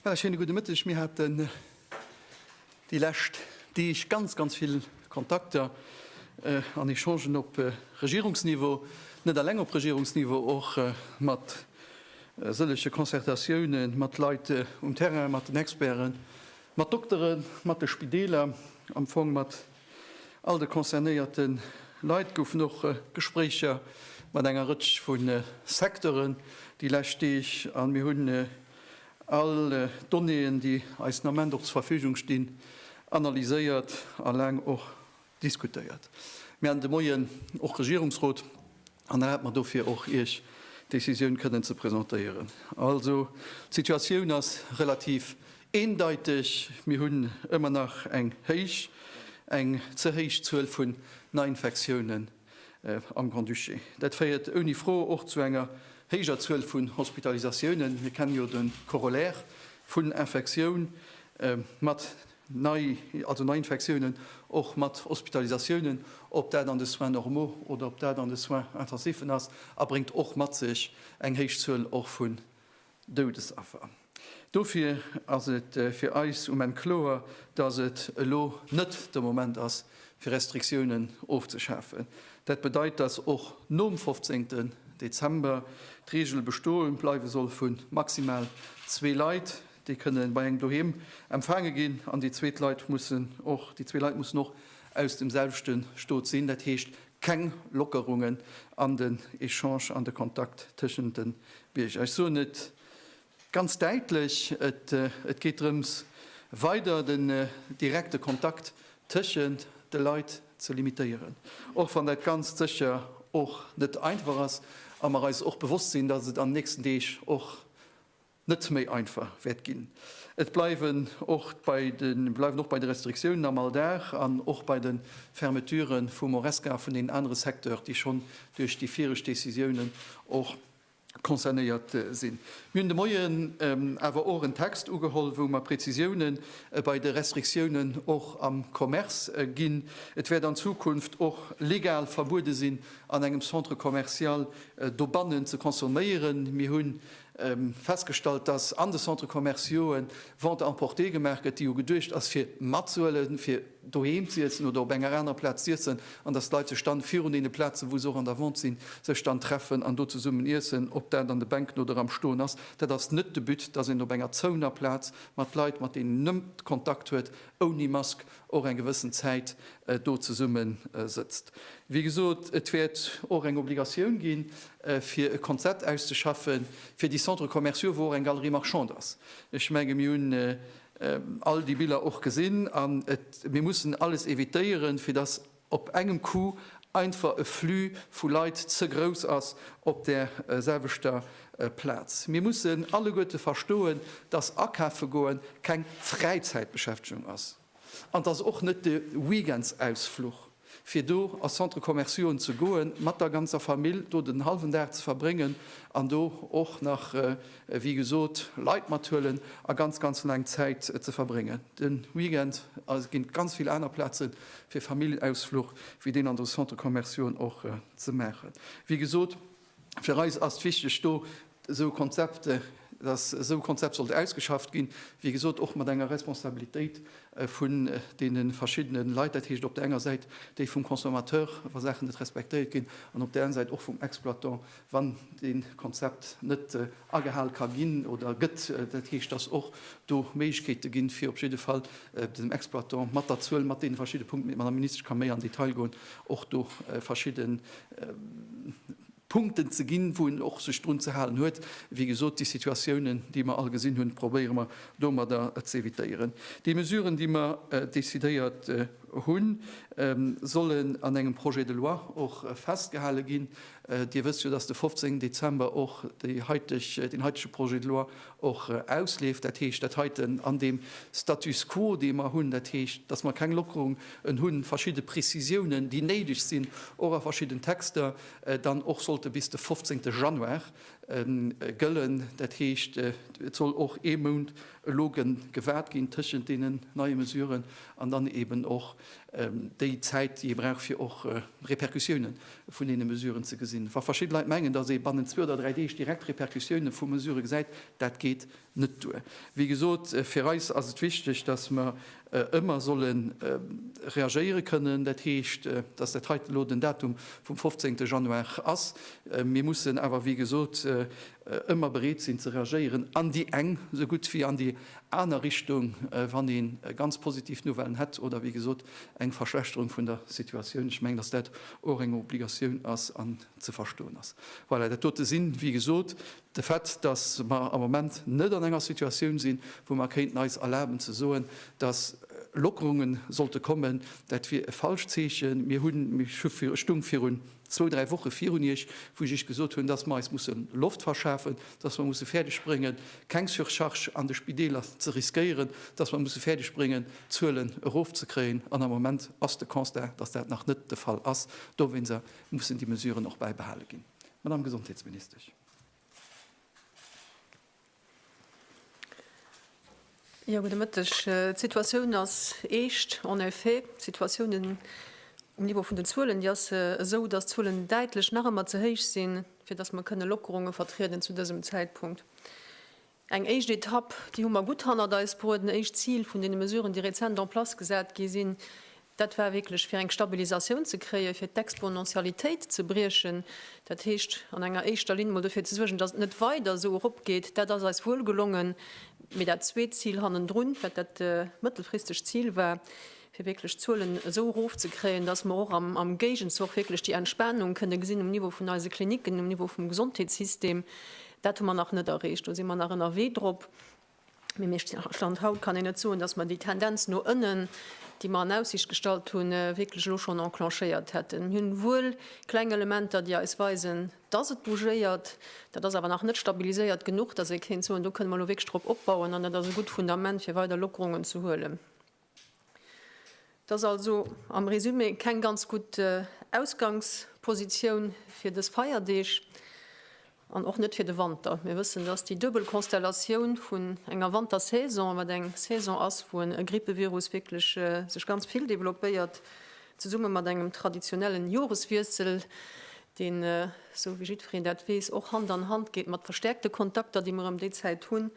Well ech hinne gudde Mëtteg mir hat den déi läscht Deeg ganz ganz vill Kontakter äh, an Echangen op äh, Regierungsniveau, net alleng op Regierungsniveau, och äh, mat äh, sëllege Concertatiounen mat Leit äh, um Terrain, mat den Experten, Mat Dokteren, mat de Spideeler, am Fong mat all de concernéierte Leit goufen och Gespréicher mat enger Rëtsch vu Secteuren déi lescht Deeg a mir hunn all d'Donnéeën, déi eis den Ament och zur Verfügung stinn, analyséiert a laang och diskutéiert. Mir haten de Moien och Regierungsrot an da hate mer dofir och Iech d'Décisioun kënnen ze presentéieren. Also d'Situatioun ass relativ eendeiteg, mir hunn ëmmer nach eng héich, eng ze héich Zuel vun Neiinfektiounen am Grand-Duché. Dat féiert ouni Fro och zu enger héijer Zuel vun Hospitalisatiounen. Mir kennen jo de Corollaire vun Infektioun mat Nei, also Neiinfektiounen, och mat Hospitalisatiounen, ob dat an de Soins normaux oder ob dat an de Soins intensiven ass, a bréngt och mat sech eng héich Zuel och vun Doudesaffer. Dofir ass et fir eis um Enn kloer, dass et elo net de Moment ass, fir Restriktiounen ofzeschafen. Dat bedeit, dass och nom 15. Dezember d'Reegel bestoe bleiwe soll vu maximal zwee Leit, Déi kënnen bei engem doheem empfaange ginn an déi zweet Leit mussen och, déi zwee Leit mussen och aus dem selwechte Stot sinn. Dat heescht keng Lockerungen an den Echange, an de Kontakt tëschent de Bierger. Ech soen et ganz däitlech, et geet drëms weider den direkte Kontakt tëschent de Leit ze limitéieren, och wann dat Ganzt sécher och net einfach ass a mer eis och bewosst sinn, datt et an den nächsten Deeg och net méi einfach wäert ginn. Et bleiwen och bei de Restriktiounen am Alldag an och bei de Fermeture vum Horesca a vun deenen anere Secteurs, déi schonn duerch déi vireg Décisiounen och concernéiert sinn. Mir hunn de Moien awer och en Text ugeholl, wou mer Präzisioune bei de Restriktiounen och am Commerce ginn. Et wäert an Zukunft och legal verbuede sinn, an engem Centre commercial dobannen ze consomméieren. Mir hunn festgestallt, dass an de Centres commerciaux Vente à emporter gemaach gëtt, déi jo geduecht ass fir matzuelen, fir doheem z'iiessen oder op enger anerer Plaz z'iiessen, an dass d'Leit sech dann virun deene Plazen, wou se och an der Vente sinn, sech dann treffen an do zesummen iessen, ob dat an de Bänken oder am Stoen ass. Dat ass net de But, dass een op enger zouener Plaz mat Leit, mat deenen een net Kontakt huet, ouni Mask och eng gewëssen Zäit do zesumme sëtzt. Wéi gesot, et wäert och eng Obligatioun gi fir e Konzept auszeschaffen, fir déi Centres commerciaux, wou och eng Galerie marchande ass. Ech menge mir hunn all déi Biller och gesinn. An mir mussen alles evitéieren, fir dass op engem Coup einfach e Flux vu Leit ze grouss ass op där selwechter Plaz. Mir mussen alleguerte verstoen, dass akafe goen keng Fräizäitbeschäftegung ass an dass och net de Weekendsausfluch, fir do a Centre-commerciauen ze goen, mat der ganzer Famill do den hallwen Dag ze verbréngen an do och nach wéi gesot, Leit mathuelen a ganz, ganz laang Zäit ze verbréngen. De Weekend ginn et ganz vill aner Plaze fir Familljenausfluch wéi deen an de Centres commerciauxen och ze maachen. Wéi gesot, fir eis ass et wichteg do esou Konzepte, dass esou e Konzept sollt ausgeschafft ginn, wéi gesot och mat enger Responsabilitéit vun deene verschiddene Leit, dat heescht op der enger Säit déi vum Consommateur, wa Saachen net respektéiert ginn, an op där aner Säit och vum Exploitant. Wann dee Konzept net agehal ka ginn oder gëtt, dat heescht, datt och do Méiglechkeete ginn, fir op jidde Fall dem Exploitant mat der Zuel, mat deene verschidde Punkten, mee d'Madame Ministesch ka méi an Detail goen, och do verschidde Punkten ze ginn, wou en och sech drun ze halen huet. Wéi gesot, déi Situatiounen, déi mer all gesinn hunn, probéiere mer domadder ze evitéieren. Déi Mesuren, déi mer decidéiert hunn, sollen an engem Projet de loi och festgehale ginn. Dir wësst jo, dass de 15 Dezember och déi heiteg, deen heitege Projet de loi och ausleeft. Dat heescht, dat heiten an deem Status quo, dee mer hunn, dat heescht, dass mer keng Lockerung en hunn, verschidde Prezisiounen, déi néideg sinn, och a verschidden Texter, dann och sollte bis de 15. Januar gëllen. Dat heescht, et soll och ee Mount elo gewaart ginn tëschent deenen neie Mesuren an dann eeben och déi Zäit, déi ee brauch, fir och Repercussioune vun deene Mesuren ze gesinn. Wa verschidde Leit mengen, datt ee bannent zwee oder dräi Deeg direkt Repercussioune vu Mesurë gesäit, dat geet net duer. Wéi gesot, fir eis ass et wichteg, datt mer ëmmer solle reagéiere kënnen. Dat heescht, datt dat heiten elo den Datum vum 15 Januar ass. Mir mussen awer, wéi gesot, ëmmer bereet sinn ze reagéieren an déi eng esou gutt wéi an déi aner Richtung, wann ee ganz positiv Nouvellen hätt oder, wéi gesot, Eng Verschlechterung vun der Situatioun. Ech mengen, dass dat och eng Obligatioun ass an ze verstoen ass. Voilà, dat dote sinn, wéi gesot, de Fait, dass mer am Moment net an enger Situatioun sinn, wou mer kéinten eis erlaben ze soen, dass Lockerunge sollte kommen. Dat wier e falscht Zeechen. Mir hunn, mir stungen virun zwou, dräi Woche virun Iech, wou ech Iech gesot hunn, dass mer eis musse Loft verschafen, dass mer musse fäerdeg bréngen, keng Surcharge an de Spideeler ze riskéieren, dass mer musse fäerdeg bréngen, d'Zuelen erofzekréien. An am Moment ass de Constat, dass dat nach net de Fall ass. Dowéinster mussen déi Mesuren och bäibehale ginn, Madame Gesondheetsministesch. Jo, gudde Mëtteg. D'Situatioun ass eescht, en effet. D'Situatioun um Niveau vun den Zuelen, déi ass esou, datt d'Zuelen däitlech nach ëmmer ze héich sinn, fir datt mer kënne Lockerunge vertrieden zu dësem Zäitpunkt. Eng éischt Etapp, déi hu mer gutt hannert eis bruet, en éischt Zil vun deene Mesuren, déi rezent en place gesat gi sinn, Dat war wierklech, fir eng Stabilisatioun ze kréien, fir d'Exponentialitéit ze briechen, dat heescht an enger éischter Linn emol dofir ze suergen, datt et net weider esou eropgeet. Dat ass eis wuel gelongen. Mee dat zweet Zil hannendrun, wat dat mëttelfristegt Zil war, fir wierklech d'Zuelen esou erofzekréien, datt mer och am Géigenzoch wierklech déi Entspanung kënne gesinn um Niveau vun eise Klinicken, um Niveau vum Gesondheetssystem, dat hu mer nach net erreecht. Do si mer nach ënnerwee drop. Mee mee Stand haut kann een net soen, dass mer déi Tendenz no ënnen, déi mer an Aussicht gestallt hunn, wierklech elo schonn enclenchéiert hätten. Mir hunn wuel kleng Elementer, déi eis weisen, dass et bougéiert. Dat ass awer nach net stabiliséiert genuch, dass ee kéint soen, do kënne mer elo wierklech drop opbauen an dat ass e gutt Fundament, fir weider Lockerungen ze huelen. Et ass also am Resumé keng ganz gutt Ausgangspositioun fir dës Feierdeeg an och net fir de Wanter. Mir wëssen, dass déi duebel Konstellatioun vun enger Wantersaison, wat eng Saison ass, wou e Grippevirus wierklech sech ganz vill developpéiert, Zesumme mat engem traditionellen Joreswiessel, deen, esou wéi jiddwereen dat weess, och Hand an Hand geet mat verstäerkte Kontakter, déi mer ëm déi Zäit hunn,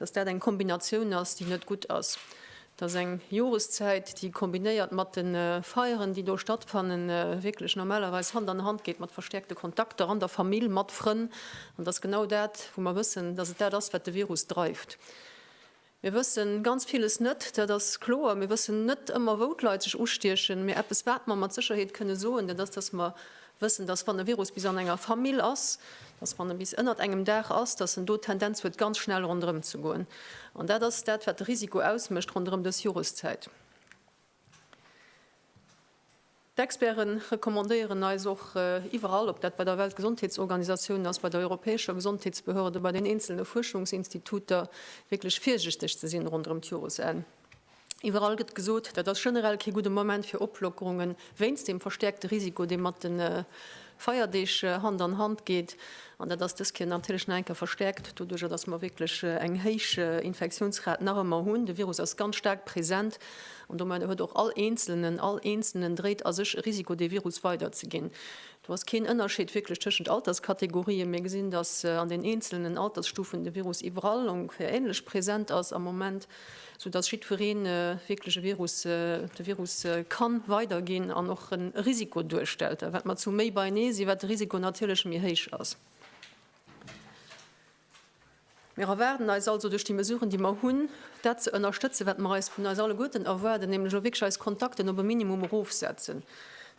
dass dat eng Kombinatioun ass, déi net gutt ass. Dass eng Joreszäit, déi kombinéiert mat de Feieren, déi do stattfannen, wierklech normalerweis Hand an Hand geet mat verstäerkte Kontakter an der Famill, mat Frënn. An dass genau dat, wou mer wëssen, dass et dat ass, wat de Virus dreift. Mir wësse ganz villes net, dat ass kloer. Mir wëssen net ëmmer, wou d'Leit sech ustiechen. Mee eppes, wat mer mat Sécherheet kënne soen, dat ass, dass mer wëssen, dass wann e Virus bis an enger Famill ass, dass wann e bis ënnert engem Daach ass, dass en do d'Tendenz huet, ganz schnell ronderëm ze goen. An dat ass dat, wat de Risiko ausmécht ronderëm dës Joreszäit. D'Experte recommandéieren eis och iwwerall, ob dat bei der Weltgesondheetsorganisatioun ass, bei der europäescher Gesondheetsbehörde, bei den eenzele Fuerschungsinstituter, wierklech virsichteg ze sinn ronderëm d'Joresenn. Iwwerall gëtt gesot, dat ass generell kee gudde Moment fir Oplockerungen, wéinst dem verstäerkte Risiko, dee mat de Feierdeeg Hand an Hand geet, an dat ass dës Kéier natierlech nach eng Kéier verstäerkt doduercher, datt mer wierklech eng héich Infektiounsrat nach ëmmer hunn. De Virus ass ganz staark present an domadder huet och all Eenzelnen, all Eenzelnen dréit a sech e Risiko dee Virus weiderzeginn. Do ass keen Ënnerscheed wierklech tëschent Alterskategorien. Mir gesinn, datt an den eenzelnen Altersstufen de Virus iwwerall ongeféier änlech present ass am Moment. sou dass jiddweree wierklech e Virus, de Virus ka weiderginn an och e Risiko duerstellt. A wat mer zu méi beienee sinn, wat de Risiko natierlech méi héich ass. Mir erwaarden eis also duerch déi Mesuren, déi mer hunn, dat ze ënnerstëtzen, wat mer eis vun eis alleguerten erwaarden, nämlech och wierklech eis Kontakten op e Minimum erofsetzen.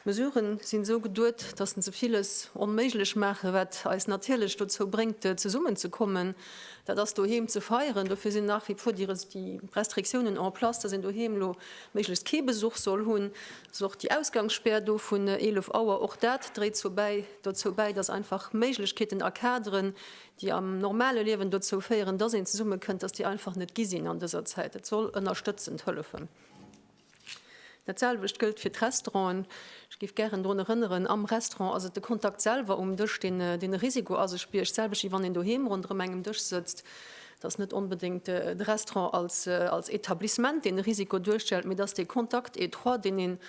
D'Mesuren sinn esou geduet, dass se villes onméiglech maachen, wat eis natierlech dozou bréngt zesummen ze kommen, dat ass doheem ze feieren. Dofir sinn nach wie vor déi Restriktiounen en place, dass een doheem elo méiglechst kee Besuch soll hunn. Et ass och déi Ausgangsspär do vun 11 Auer, och dat dréit dozou bäi, dass einfach Méiglechkeeten a Kaderen, déi am normale Liewen dozou féieren, dass een zesummekënnt, dass déi einfach net gi sinn an dëser Zäit. Et soll ënnerstëtzend hëllefen. Dat selwecht gëllt fir d'Restauranten. Ech géif gären drun erënneren, am Restaurant ass et de Kontakt selwer um Dësch, deen e Risiko a sech biergt, d'selwecht wéi wann een doheem ronderëm engem Dësch sëtzt. Et ass net onbedéngt de Restaurant als Etablissement, deen e Risiko duerstellt, mee et ass dee Contact étroit, deen een,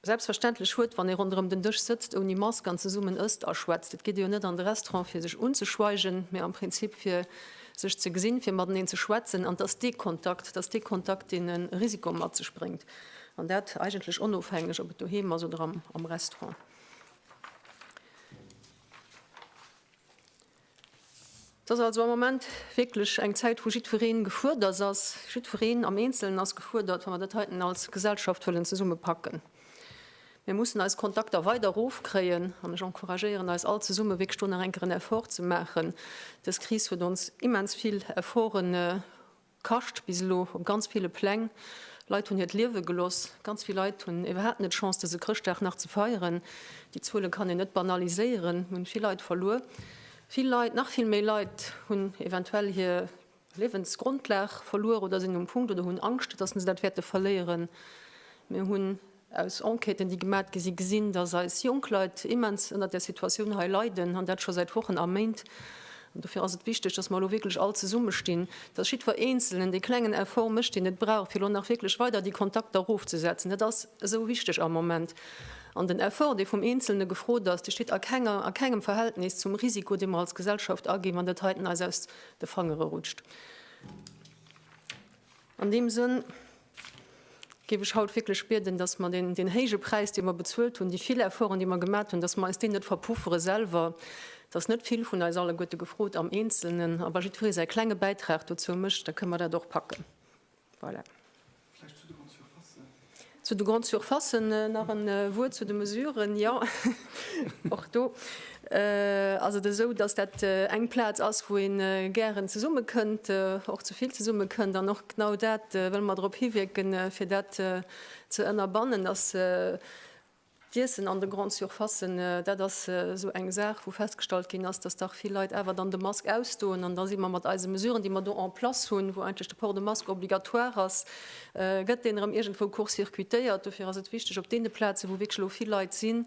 Selbstverständlech huet, wann ee ronderëm den Dësch sëtzt ouni Mask an zesummen ësst a schwätzt. Et geet ee jo net an de Restaurant fir sech unzeschweigen, mä am Prinzip fir sech ze gesinn, fir mateneen ze schwätzen. An et ass dee Kontakt, et ass dee Kontakt, deen e Risiko mat sech bréngt, an dat eigentlech onofhängeg, ob et doheem ass oder am Restaurant. Et ass also am Moment wierklech eng Zäit, wou jiddweree gefuerdert ass. Jiddwereen am Eenzelen ass gefuerdert, wa mer dat heiten als Gesellschaft wëllen zesummepacken. Mir mussen eis Kontakter weider erofkréien an ech encouragéieren eis all zesumme wierklech do nach eng Kéier en Effort ze maachen. Dës Kris huet ons immens vill Efforten Kascht bis elo op ganz ville Pläng. Leit hunn hiert Liewe geloss. Ganz vill Leit hunn iwwerhaapt net d'Chance dëse Chrëschtdag nach ze feieren. Déi Zuele kann een net banaliséieren. Mir hunn vill Leit verluer. Vill Leit, nach vill méi Leit hunn eventuell hir Liewensgrondlag verluer oder sinn um Punkt oder hunn Angscht, datt se dat wäerte verléieren. Mir hunn Aus Enquêten, déi gemat gi sinn, gesinn, dass eis jonk Leit immens ënnert där Situatioun hei leiden, an dat scho säit Wochen a Méint. An dofir ass et wichteg, dass mer elo wierklech all zesummestinn, dass jiddwer Eenzelnen dee klengen Effort mécht, deen et brauch, fir elo nach wierklech weider déi Kontakter erofzesetzen. Dat ass esou wichteg am Moment. An den Effort, dee vum Eenzelne gefrot ass, dee steet a kenger, a kengem Verhältnis zum Risiko, dee mer als Gesellschaft aginn, wann dat heiten eis aus de Fangere rutscht. An deem Sënn. géif ech haut wierklech bieden, dass mer deen héije Präis, dee mer bezuelt hunn, déi vill Efforten, déi mer gemat hunn, dass mer eis deen net verpuffere selwer, dass net vill vun eis alleguerte gefrot am Eenzelnen, a wa jiddweree säi klenge Bäitrag dozou mécht, da kënne mer dat och packen. Voilà. Vläicht zu de Grande-surfacen. Zu de Grande-surfacen nach e Wuert zu de Mesuren. Jo. Och do ass et esou, datt dat eng Plaz ass, wou ee gären zesumme kënnt, och ze vill zesumme kënnt. An och genau dat wëlle mer drop hiwierken, fir dat ze ënnerbannen, datt d'Iessen an de Grandes surfacen, dat ass esou eng Saach, wou festgestallt ginn ass, datt dach vill Leit awer dann de Mask ausdoen. An da si mer mat eise Mesuren, déi mer do en place hunn, wou eigentlech de Port de masque obligatoire ass, gëtt deen erëm iergendwou court-circuitéiert. Dofir ass et wichteg, op deene Plazen, wou wierklech elo vill Leit sinn,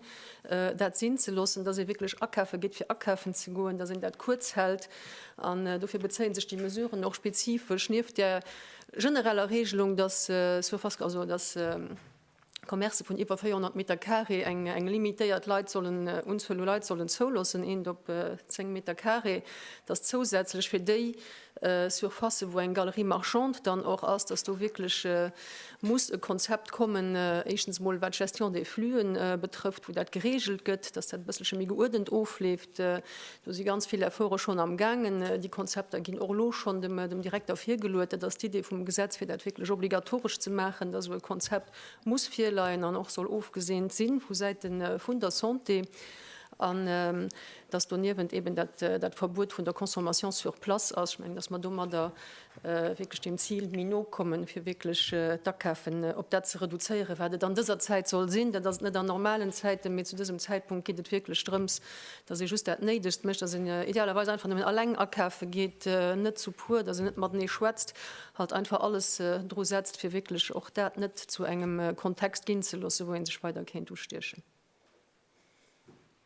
dat sinn ze loossen, dass ee wierklech akafe geet, fir akafen ze goen, dass een dat kuerz hält. An dofir bezéie sech déi Mesuren och spezifesch, nieft där genereller Regelung, dass, soit fasc-, also dass, Commercë vun iwwer 400 Meter Carré eng eng limitéiert Leit sollen Unzuel u Leit sollen zouloossen, eent op 10 Meter Carré, dass zousätzlech fir déi Surfacë wou eng Galerie marchande dann och ass, dass do wierklech muss e Konzept kommen, éischtens emol wat d'Gestion des flux betrëfft, wou dat geregelt gëtt, dass dat e bësselche méi geuerdent ofleeft. Do si ganz vill Efforte schonn am gaangen. Déi Konzepter ginn och elo schonn dem Direkter virgeluet. Dat ass d'Idee vum Gesetz, fir dat wierklech obligatoresch ze maachen, datt esou e Konzept muss virleien an och soll ofgeseent si vu Säite vun der Santé an datt doniewent eeben dat Verbuet vun der Consommation sur place ass. Ech mengen, datt mer domadder wierklech deem Zil méi no kommen, fir wierklech d'Akafen op dat ze reduzéieren, wat et an dëser Zäit soll sinn. Dat ass et net an normalen Zäiten, mee zu dësem Zäitpunkt geet et wierklech drëms, datt ee just dat Néidegst mécht, datt een idealerweis einfach nëmmen eleng akafe geet, net zu puer, datt een net matenee schwätzt, halt einfach alles dru setzt, fir wierklech och dat net zu engem Kontext ginn ze loossen, wou ee sech weider kéint ustiechen.